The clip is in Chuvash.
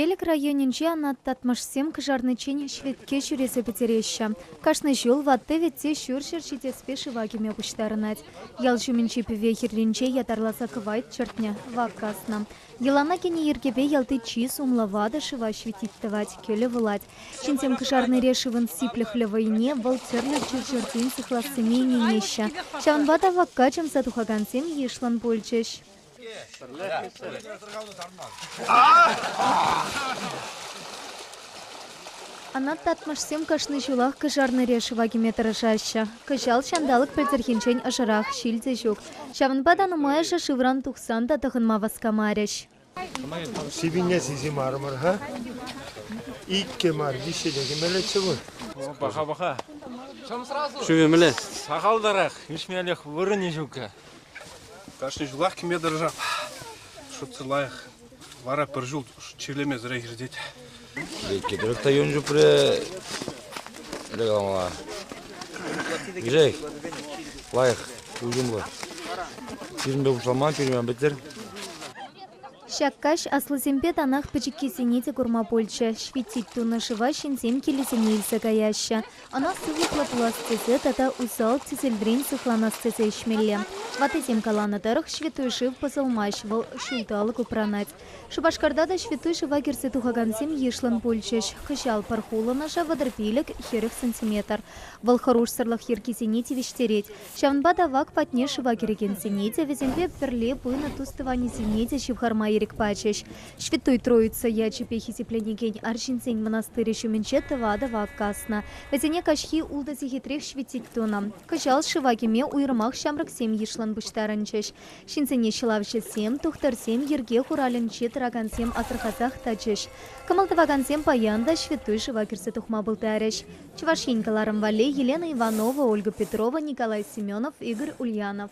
Элӗк районӗнче анат татмӑшсем кӑшарниччен ҫветке ҫӳресе пӗтереҫҫӗ. Кашни ҫул ватти-вӗтти ҫурҫӗр ҫитеспе шыва кӗме пуҫтарӑнать. Ял ҫумӗнчи пӗве хӗрринче ятарласа кӑвайт чӗртнӗ, вак каснӑ. Йӑлана кӗнӗ йӗркепе ялти чи сумлӑ ватӑ шыва ҫветить тӑвать, кӗлӗ вулать. Ҫынсем кӑшарнире шывӑн сиплӗхлӗ вӑйне, вӑл тӗрлӗ чир-чӗртен сыхлассине ӗненеҫҫӗ. Ҫавӑнпа та вакка чӑмса тухакансем йышлӑн пулчӗҫ. Анат татмӑшсем кашни ҫулах кӑшарнӑре шыва кӗме тӑрӑшаҫҫӗ. Кӑҫал ҫанталӑк пӗлтӗрхинчен ӑшӑрах, ҫил те ҫук. Ҫавӑнпа та нумайӑшӗ шывран тухсан та тӑхӑнма васкамарӗҫ. Сивӗне сисимарӑмӑр-ха. Иккӗ мар, виҫҫӗ те кӗмеллеччӗ вӑл. Паха-паха. Шыв ӗмӗле. Сахалтарах, ӳсмелӗх вырӑнӗ ҫук. Кашни ҫулах кӗме тӑрӑшап. Шутсӑр лайӑх. Вара пӗр ҫул чирлемесӗрех иртет. Кӗтерек та юн чупрӗ. Ӗле каламала. Грей, лайӑх, уйрӑмлӑ. Пирӗнпе пуҫлама, пирӗнпе пӗтер. Ҫак каҫ аслисемпе танах пӗчӗккисене те курма пулчӗ. Ҫветтит тунӑ шыва ҫынсем килӗсене илсе каяҫҫӗ. Ӑна сывлӑхлӑ пулас тесе тата усал тӗселрен сыхланас тесе ӗҫмелле. Ватӑсем каланӑ тӑрӑх, ҫвятой шыв пӑсӑлмасть, вӑл ҫулталӑк упранать. Шупашкарта та ҫвятой шыва кӗрсе тухакансем йышлӑн пулчӗҫ. Кӑҫал пӗр хулӑнӑшӗ вӑтӑр пилӗк, хӗрӗх сантиметр. Вӑл хӑрушсӑрлӑх йӗркисене тивӗҫтерет. Ҫавӑнпа та вак патне шыва кӗрекенсене те, вӗсемпе пӗрле пынӑ тус-тӑванӗсене те ҫывхарма ирӗк пачӗҫ. Ҫвятой Троица ячӗпе хисепленекен арҫынсен мӑнастырӗ ҫумӗнче тӑватӑ вак каснӑ. Вӗсене каҫхи ултӑ сехетрех ҫветтить тунӑ. Кӑҫал шыва кӗме уйрӑмах ҫамрӑксем йышлӑн пуҫтарӑнчӗҫ. Ҫынсене ҫӑлавҫӑсем, тухтӑрсем йӗрке хуралӗнче тӑракансем асӑрхасах тӑчӗҫ. Кӑмӑл тӑвакансем паян та ҫвятой шыва кӗрсе тухма пултарӗҫ. Чӑваш Ен кӑларӑм валли Елена Иванова, Ольга Петрова, Николай Семенов, Игорь Ульянов.